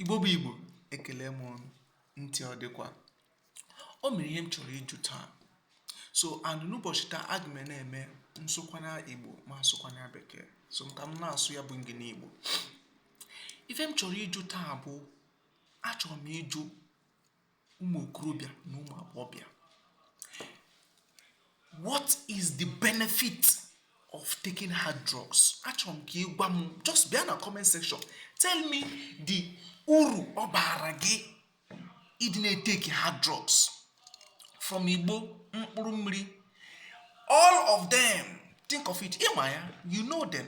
Igbo bụ Igbo ekele m unu, ntị ọ dịkwa? O nwere ihe m chọrọ ịjụ taa. So and n'ụbọchị taa aga m na-eme nsụkwara Igbo ma sụkwara Bekee. So ka m na-asụ ya bụ Engli Igbo. Ife m chọrọ ịjụ taa bụ achọrọ m ịjụ ụmụ okorobịa na ụmụ agbọghọbịa what is the benefit of taking hard drugs achọrọ m ka ị gwa m just bịa na comment section tell me the uru ọ baara gị ịdị na-eteki hard drugs from igbo mkpụrụ mmiri all of them think of it ị ma ya you know them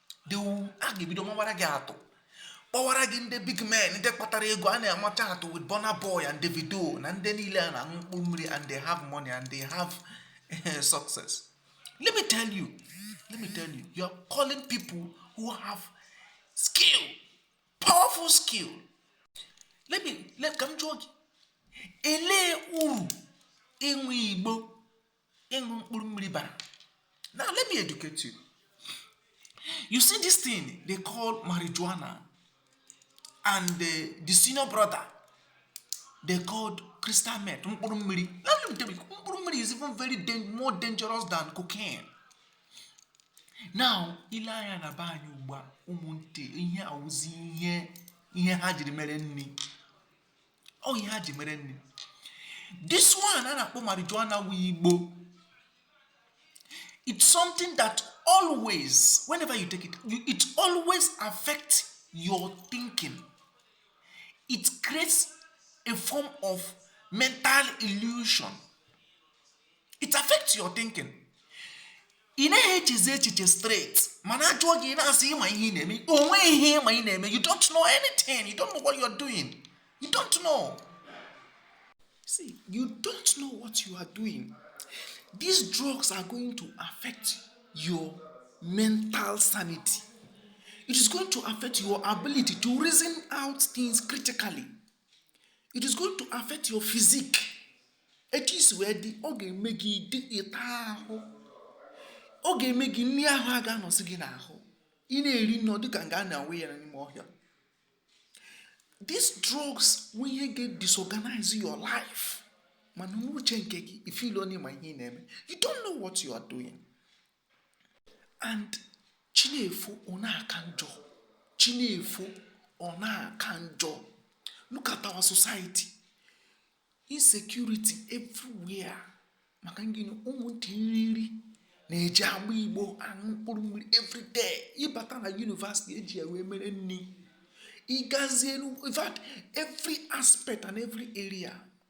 a ga-ebido mawara gị atụ kpọwara gị ndị big men ndị kpatara ego a na-amacha atụ with Burna Boy and Davido na ndị niile a na-aṅụ mkpụrụ mmiri and they have money and they have eh, success let me tell you let me tell you you are calling people who have skill powerful skill let me let ka m jụọ gị elee uru ịṅụ igbo ịṅụ mkpụrụ mmiri bara now let me educate you you see this thing they call marijuana and the, the senior brother they called crystal meth mkpụrụ mmiri mkpụrụ mmiri is even very dan more dangerous than cocaine now i lee anya na be anyị ugbu a ụmụntị ihe a wụzi ihe ha jiri mere nri ọ ihe ha ji mere nri this one a na-akpọ marijuana wu igbo it's something that always whenever you take it you, it always affect your thinking it creates a form of mental illusion it affects your thinking ị naghị echezi echiche straight mana a jụọ gị ị na-asị ị ma ihe ị na-eme o nweghị ihe ị ma ị na-eme you don't know anything you don't know what you are doing you don't know see you don't know what you are doing these drugs are going to affect your mental sanity it is going to affect your ability to reason out things critically it is going to affect your physique etu i si wee dị ọ ga-eme gị dị ịta ahụ ọ ga-eme gị nri ahụ agaghị anọzi gị n'ahụ ị na-eri nri ọ dịka nga a na-awụ ya n'ime ọhịa these drugs wụ ihe ga-disorganize your life mana n'uche nke gị ị feel na ị ma ihe ị na-eme you don't know what you are doing and chi na-efo ọ na-aka njọ chi na-efo ọ na-aka njọ look at our society insecurity everywhere maka ngịnị ụmụntịrịrị na-eji agba igbo aṅụ mkpụrụ mmiri everyday ị bata na yunivasiti e ji ya wee mere nri ị gazie in fact every aspect and every area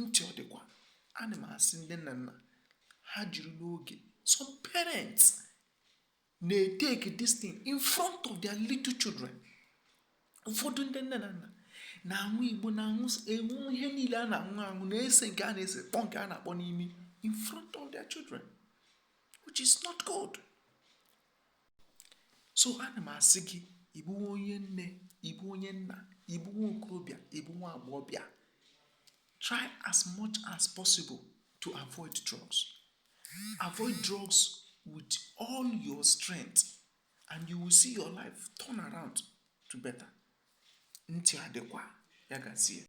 ntị ọ dịkwa ana m asị ndị nna nna ha jiri n'oge some parents na-etake this thing in front of their little children ụfọdụ ndị nne na nna na-aṅụ igbo na-aṅụ ewu ihe niile a na-aṅụ aṅụ na-ese nke a na-ese kpọ nke a na-akpọ n'imi in front of their children which is not good so ana m asị gị ị bụ onye nne ị bụ onye nna ị bụ nwa okorobịa ị bụ nwa agbọghọbịa try as much as possible to avoid drugs avoid drugs with all your strength and you will see your life turn around to better ntị adịkwa ya gazie